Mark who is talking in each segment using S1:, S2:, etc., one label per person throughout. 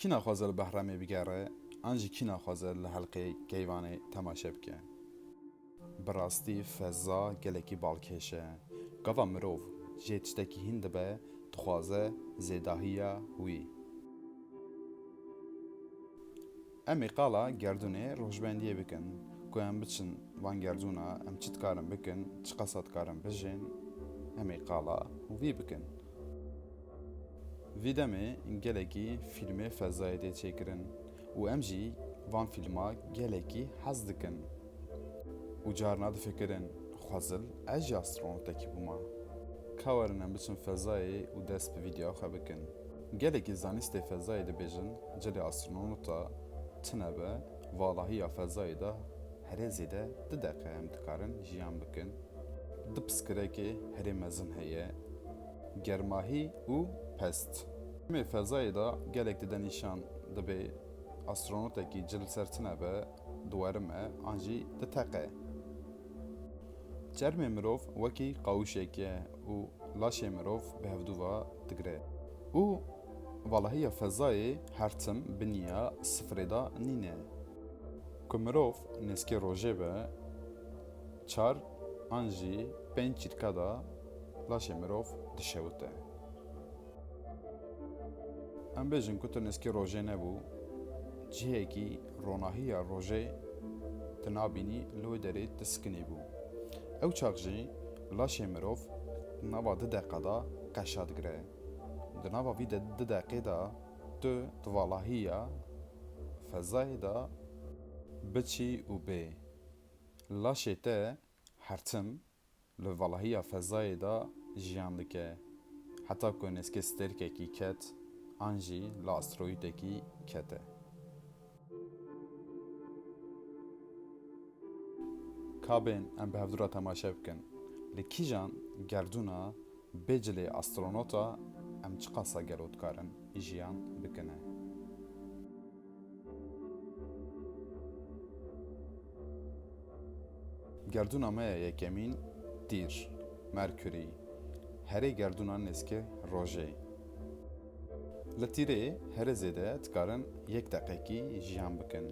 S1: Kî naxwaze li Behremê bigere an jî kî naxwaze li Helqê Keyvanê temaşe bike? Bi rastî feza gelekî balkêş e. Gava mirov jê tiştekî hîn dibe dixwaze zêdahiya wî. Em ê qala gerdûnê rojbendiyê bikin ku em biçin van gerdûna, em çi dikarin bikin, çiqasa dikarin bijîn, em ê qala wî bikin. Vî demê gelekî fîlmê fezayê tê çêkirin û em jî van fîlma gelekî hez dikin û carna difikirin xwezil ez jî astronot-ekî bûma. Ka werin em biçin fezayê û dest bi vîdyoya xwe bikin. Gelekî zanistê fezayê dibêjin cilê astronota tune be, valahî ya fezayê de herê zêde du deqe em dikarin jiyan bikin. Du piskirekê herê mezin heye, germahî û pest. Demê fezayê de gelek dide nîşan dibê astronotekî cil li ser tune be, duwerim e, an jî du teq e. Çermê mirov wekî qawişek e û laşê mirov bi hevdû va digre. Û valahiya fezayê her tim biniya sifirê da nîne. Ku mirov nêzkê rojê be, çar an jî pênc çîrka da laşê mirov dişewite. Em bêjin ku tu nêzkê rojê nebû, cihekî Ronahiya rojê tu nabînî li wê derê tu sikinî bû. Ew çax jî laşê mirov di nava du deqa de qeşa digire. Di nava vî du deqê de tu di valahiya fezayê de biçî û bê. Laşê te Her tim li valahiya fezayê de jiyan dike, heta ku nêzkê stêrkekî ket an jî li asteroîdekî kete. Kabên em bi hevdû re temaşe bikin, li kîjan gerdûna Bê cilê astronota em çiqasa gelo dikarin jiyan bikine. Gerdûna me ya yekemîn tîr, Mercury, herê gerdûna nêzîkê rojê. Li tîrê herê zêde dikarin yek deqekî jiyan bikin.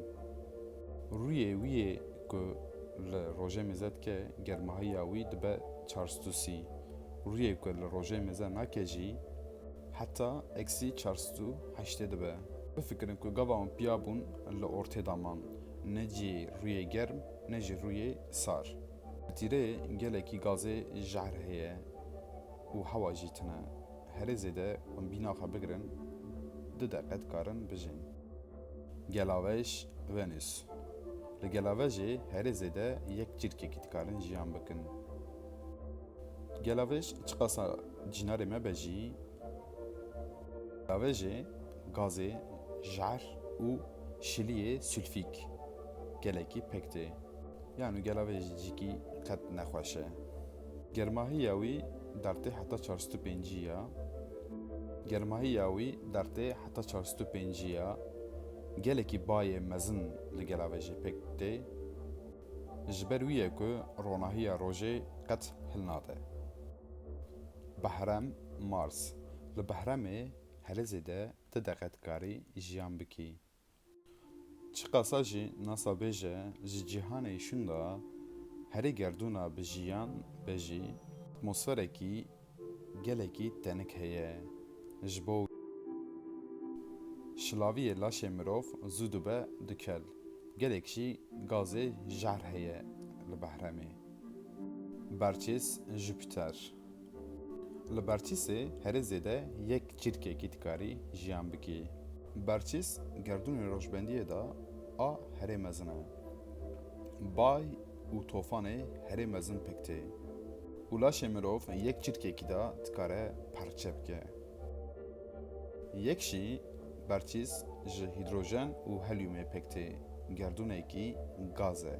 S1: Rûyê wî yê ku li rojê mêze dike germahiya wî dibe çarsdûsî. Rûyê ku li rojê mêze nake jî heta eksî çar sed û heştê dibe. Bifikirin ku gava wan piya bûn li ortê de man, ne cî rûyê germ ne jî rûyê sar. Li tîrê gelekî gazê jehr heye û hewa jî tune. Herê zêde em bîna xwe bigirin du deqe dikarin bijîn. Gelavej Venus Li gelavejê herê zêde yek çirkekî dikarin jiyan bikin. Gelavej çiqasa cînarê me be jî gelavejê gazê jer û şiliyê sülfîk gelekî pek tê. Yan û gelavejê cîkî qet nexweş e. Germahiya wî dertê heta çar sed û pêncî ya. Germahiya wî dertê heta çar sed û pêncî ya. Gelekî bayê mezin li gela ve jê pêk tê. Ji ber wî ye ku ronahiya rojê qet hil nade. Behrem, Mars, Li Behremê herê zêde ti deqe dikarî jiyan bikî. Çiqasa jî nasa bêje ji cîhanê îşûn de herî gerdûna bi jiyan be jî atmosferekî gelekî tenik heye. Ji bo wî şilaviyê laşê mirov zû dibe du kel. Gelek jî gazê jehr heye li behremê. Berçês Jupiter. Li berçîsê herî zêde yek çîrkekî dikarî jiyan bikî. Berçîs gerdûnê rojbendiyê de a herî mezin e. Bay û tofanê herî mezin pik tê û laşê mirov yek çîrkekî de dikare perçe bike. Yek jî berçîs ji hîdrojen û helyumê pik tê, gerdûnekî gaz e.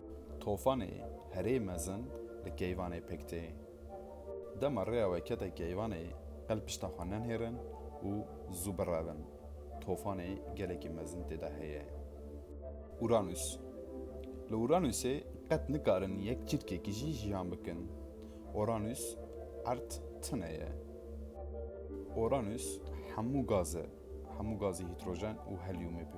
S1: Tofanê herê mezin li keyvanê pêk tê. Dema rêya we kete keyvanê qel pişta xwe nenihêrin û zû birevin. Tofanê gelekî mezin tê de heye. Uranus Li Uranusê qet nikarin yek çirkekî jî jiyan bikin. Uranus erd tune ye. Uranus hemû gaz e. Hemû gazî hîtrojen û helyûmê bi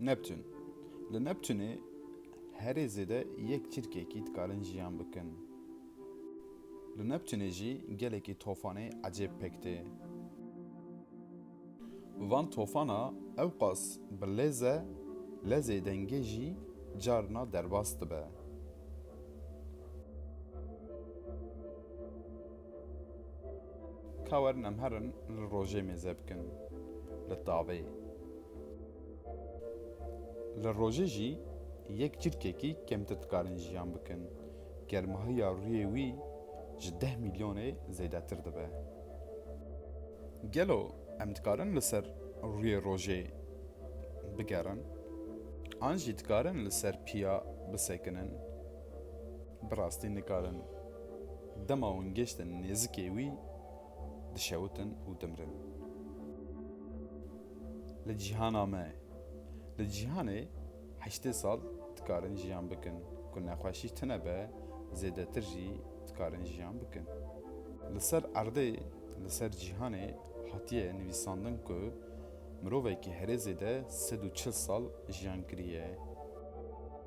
S1: Neptun, Li Neptunê herê zêde yek çirkekî dikarin jiyan bikin. Li Neptunê jî gelekî tofanê ecêb pek tê. Van tofana ewqas bi lêz e, lezê dengê jî carna derbas dibe. Ka werin em herin li rojê mêze bikin li tavê. Li rojê jî yek çirkekî kemtir dikarin jiyan bikin. Germahîya rûyê wî ji deh mîlyonê zêdetir dibe. Gelo em dikarin li ser rûyê rojê bigerin an jî dikarin li ser piya bisekinin? Bi rastî nikarin. Dema hûn gêştin nêzikê wî, dişewitin û dimirin. Li cîhana me, li cîhanê heştê sal dikarin jiyan bikin, ku nexweşî tune be zêdetir jî dikarin jiyan bikin. Li ser erdê, li ser cîhanê hatiye nivîsandin ku mirovekî herê zêde sed û çil sal jiyan kiriye.